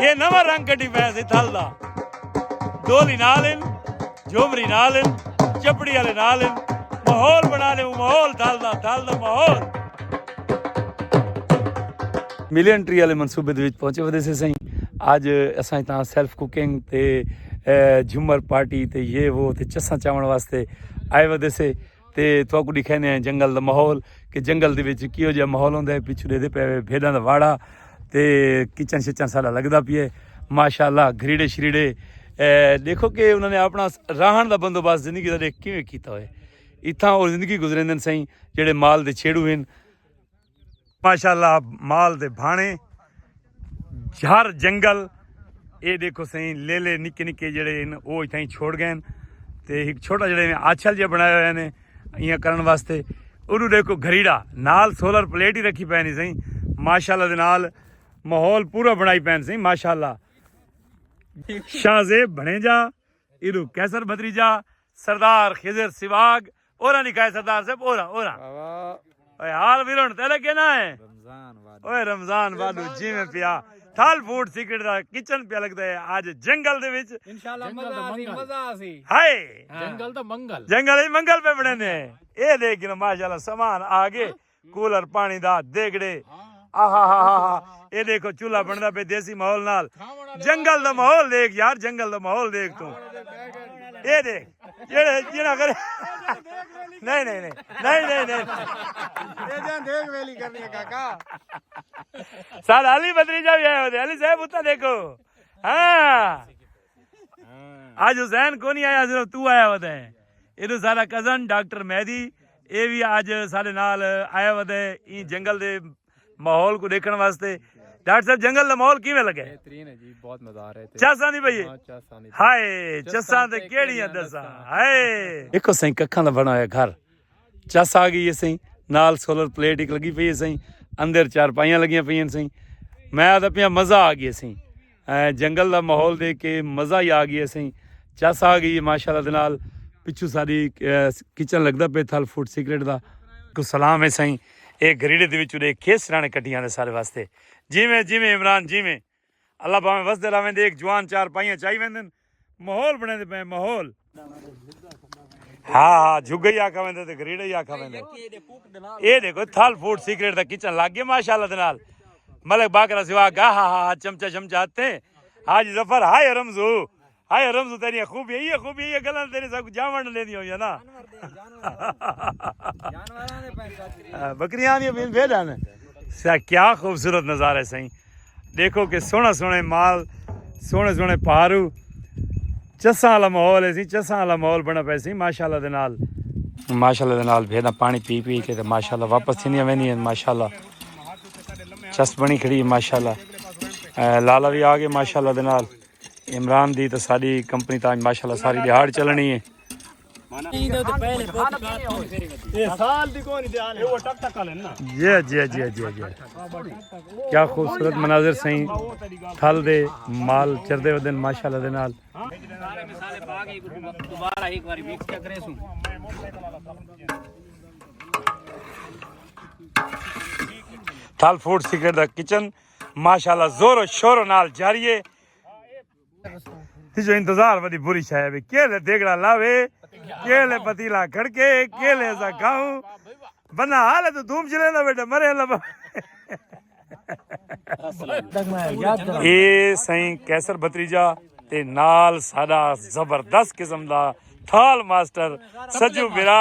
یہ نواں رنگ کڈی پیا سی تھل دا ڈولی نال ان جھومری نال ان چپڑی والے نال ان ماحول بنا لے ماحول تھل دا تھل دا ماحول ملین ٹری والے منصوبے دے وچ پہنچے ودے سے سائیں اج اساں تاں سیلف کوکنگ تے جھمر پارٹی تے یہ وہ تے چساں چاون واسطے آئے ودے سے تے تھوکو دکھانے ہیں جنگل دا ماحول کہ جنگل دے وچ کیو جہا ماحول ہوندا ہے پیچھے دے پے بھیڈاں دا واڑا تے کچن شچن سارا لگدا پیے ماشاءاللہ گھریڑے شریڑے دیکھو کہ انہوں نے اپنا راہن دا بندوبست زندگی دا دیکھ کیویں کیتا ہوئے اتھاں اور زندگی گزریندن سائیں جڑے مال دے چھیڑو ہیں ماشاءاللہ مال دے بھانے جھر جنگل اے دیکھو سائیں لیلے نکے نکے جڑے ہیں او اتھاں چھوڑ گئے ہیں تے ایک چھوٹا جڑے ہیں آچھل جے بنایا ہوئے ہیں ایاں کرن واسطے اونوں دیکھو گھریڑا نال سولر پلیٹ ہی رکھی پینی سائیں ماشاءاللہ دے نال ماحول پورا بنائی پین سائیں ماشاءاللہ شاہ زیب بھنیجا ایرو کیسر بھتریجا سردار خضر سواگ اوراں لکھائے سردار صاحب اوراں اوراں اوے حال ویرن تے لگے نہ ہے رمضان واد اوے رمضان واد جی میں پیا تھال فوڈ سیکرٹ دا کچن پیا لگدا ہے اج جنگل دے وچ انشاءاللہ مزہ آسی مزہ آسی ہائے جنگل دا منگل جنگل وچ منگل پہ بنے نے اے دیکھ کے ماشاءاللہ سامان آ گئے کولر پانی دا دیگڑے آہاہاہاہا اے دیکھو چولہا بندا پے دیسی ماحول نال جنگل دا ماحول دیکھ یار جنگل دا ماحول دیکھ تو اے دیکھ جڑے جڑا کرے نہیں نہیں نہیں نہیں نہیں اے جان دیکھ ویلی کرنی ہے کاکا سال علی بدری جا بھی آئے ہوتے علی صاحب اتا دیکھو ہاں آج حسین کو نہیں آیا صرف تو آیا ہوتا ہے ادھر سارا کزن ڈاکٹر مہدی اے بھی آج سارے نال آیا ہوتا ہے این جنگل دے ماحول کو دیکھن واسطے ڈاکٹر صاحب جنگل دا ماحول کیویں لگا ہے بہترین ہے جی بہت مزہ آ رہا ہے چاساں دی بھئی ہائے چساں تے کیڑیاں دساں ہائے ایکو سائیں ککھاں دا بنا ہویا گھر چس آ گئی سائیں نال سولر پلیٹ ایک لگی پئی سائیں اندر چار پائیاں لگیاں پئی سائیں میں آتا پیا مزہ آ گیا سائیں جنگل دا ماحول دے کے مزہ ہی آ گیا سائیں چس آ گئی ماشاء اللہ نال پچھو ساری کچن لگدا پے تھل فوڈ سیکرٹ دا کو سلام ہے سائیں ایک گھریڈے دے وچوں دے کھیس رانے کٹیاں دے سارے واسطے جی میں جی میں عمران جی میں اللہ بھاویں وسدے رہویں دیکھ جوان چار پائیاں چائی ویندن ماحول بنے دے پے ماحول ہاں ہاں جھگے ہی آکھا ویندے تے گریڑے ہی آکھا ویندے اے دیکھو تھل فوڈ سیکرٹ دا کچن لگ گیا ماشاءاللہ دے نال ملک باقرا سوا گا ہا ہا چمچا چمچا ہتے حاج ظفر ہائے رمزو ہائے رمزو تیریاں خوبیاں ایہ خوبیاں ایہ گلاں تیرے سب کو جاون لے دی ہویاں نا بکریاں دی بھی بھیڑ ہیں سا کیا خوبصورت نظارہ ہے سائیں دیکھو کہ سونا سونے مال سونے سونے پہارو چساں والا ماحول ہے سی چساں والا ماحول بنا پے سی ماشاءاللہ دے نال ماشاءاللہ دے نال بھیڑاں پانی پی پی کے تے ماشاءاللہ واپس تھیندیاں ویندیاں ماشاءاللہ چس بنی کھڑی ماشاءاللہ لالا بھی آ گئے ماشاءاللہ دے نال عمران دی تے ساڈی کمپنی تاں اج ماشاءاللہ ساری دیہاڑ چلنی ہے جی جی جی جی جی کیا خوبصورت مناظر سائیں تھل دے مال چردے ودن ماشاءاللہ دے نال تھل فوڈ سیکرٹ دا کچن ماشاءاللہ زور و شور و نال جاری ہے جو انتظار ودی بری شاہ ہے کیلے دیگڑا لاوے کیلے پتیلا کھڑکے کیلے ایسا کھاؤں بنا حال ہے تو دوم جلے دا بیٹا مرے لبا اے سائیں کیسر بطریجہ تے نال ساڑا زبردست قسم دا تھال ماسٹر سجو برا